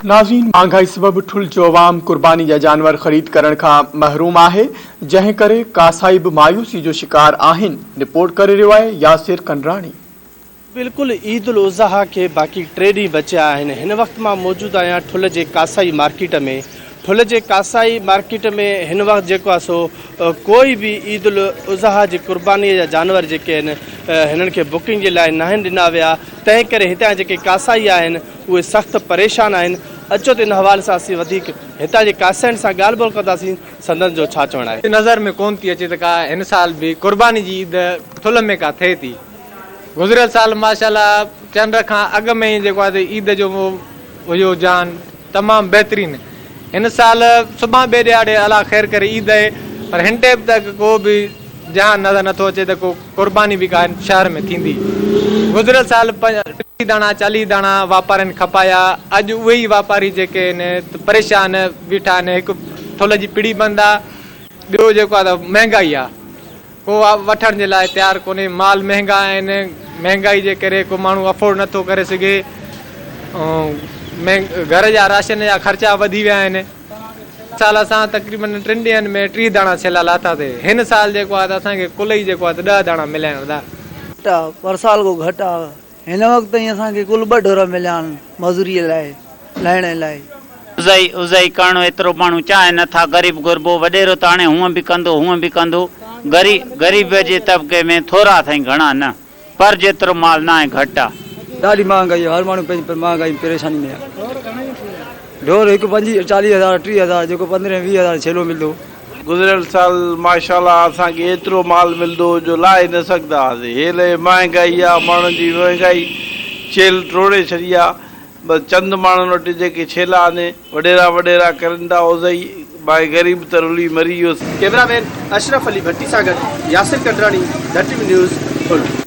ناظرين مھانگائي سبب ٺل جو عوام قرباني جا جانور خريد ڪرڻ کان محروم آھي جنھن ڪري ڪاسائي به مايوسي جو شڪار آھن رپورٽ ڪري رھيو آھي ياسر ڪنڊراڻي. بلڪل عيد الاضحيٰ کي باقي ٽي ڏينهن بچيا آهن هن وقت مان موجود آهيان ٺل جي ڪاسائي مارڪيٽ ۾ ٺل جي ڪاسائي مارڪيٽ ۾ هن وقت جيڪو آهي سو ڪوئي به عيد الاضحيٰ جي قرباني جا جانور جيڪي آهن هنن کي بڪنگ جي لاء ناهن ڏنا ويا تنهن ڪري هتان جيڪي ڪاسائي آهن اهي سخت پريشان آهن، اچو ته ان حوالي سان اسين وڌيڪ هتان جي ڪاسائين سان ڳالهه ٻولهه ڪنداسين، سندن جو ڇا چوڻ آهي. نظر ۾ ڪونه ٿي اچي ته ڪا هن سال به قرباني جي عيد ٿلهه ۾ ڪا ٿئي ٿي. گذريل سال ماشاءالله چنڊ کان اڳ ۾ ئي جيڪو آهي سي عيد جو هيو رجحان تمام بهترين. هن سال سڀان ٻئي ڏهاڙي الله خير ڪري عيد آهي پر هن ٽيم ته ڪو به رجحان نظر نٿو اچي ته ڪو قرباني به ڪانه شهر ۾ ٿيندي. گذريل سال ٽيهه داڻا چاليهه داڻا واپارين کپايا اڄ اهي ئي واپاري جيڪي آهن ته پريشان بيٺا آهن هڪ ٿلهه جي پڙي بند آ ٻيو جيڪو آ ته مهنگائي آ ڪو وٺڻ جي لاء تيار ڪونهي مال مهنگا آهن مهنگائي جي ڪري ڪو ماڻهو افورڊ نٿو ڪري سگهي ۽ گهر جا راشن جا خرچا وڌي ويا آهن. سال اسان تقريبن ٽن ڏينهن ۾ ٽيهه داڻا ڇيلا لاٿاسي. هن سال جيڪو آهي ته اسان کي ڪل ئي جيڪو آهي ته ڏهه داڻا مليا آهن ادا. گهٽ آ پر سال ڪو گهٽ آ هن وقت تائين اسان کي ڪل ٻه ڍور مليا آهن مزوري لاء لهڻي لاء. عزائي عزائي ڪرڻو ايترو ماڻهو چاهي نه ٿا غريب غربو وڏيرو ته هاڻي هونء به ڪندو هونء به ڪندو غريب غريب جي طبقي ۾ ٿورا اٿئي گهڻا نه. پر جيترو مال ناهي گهٽ آ. ڏاڍي مهانگائي آ هر ماڻهو پنهنجي مهانگائي ۾ پريشاني ۾ آ ڍور هڪ پنجيهه چاليهه هزار ٽيهه هزار جيڪو پندرهن ويهه هزار ڇيلو ملدو. گذريل سال ماشاءالله اسان کي ايترو مال ملدو هو جو لاهي نه سگهدا هئاسين هيل هي مهانگائي آ ماڻهن جي مهانگائي چيلهه ٽوڙي ڇڏي آ بس چند ماڻهن وٽ جيڪي ڇيلا آني وڏيرا وڏيرا ڪرندا اوزهئي باهه غريب ته رلي مري ويو. ڪيمرا مين اشرف علي ڀٽي سان گڏ ياسر ڪنڊراڻي، ڌٽ نيوز، ٺل.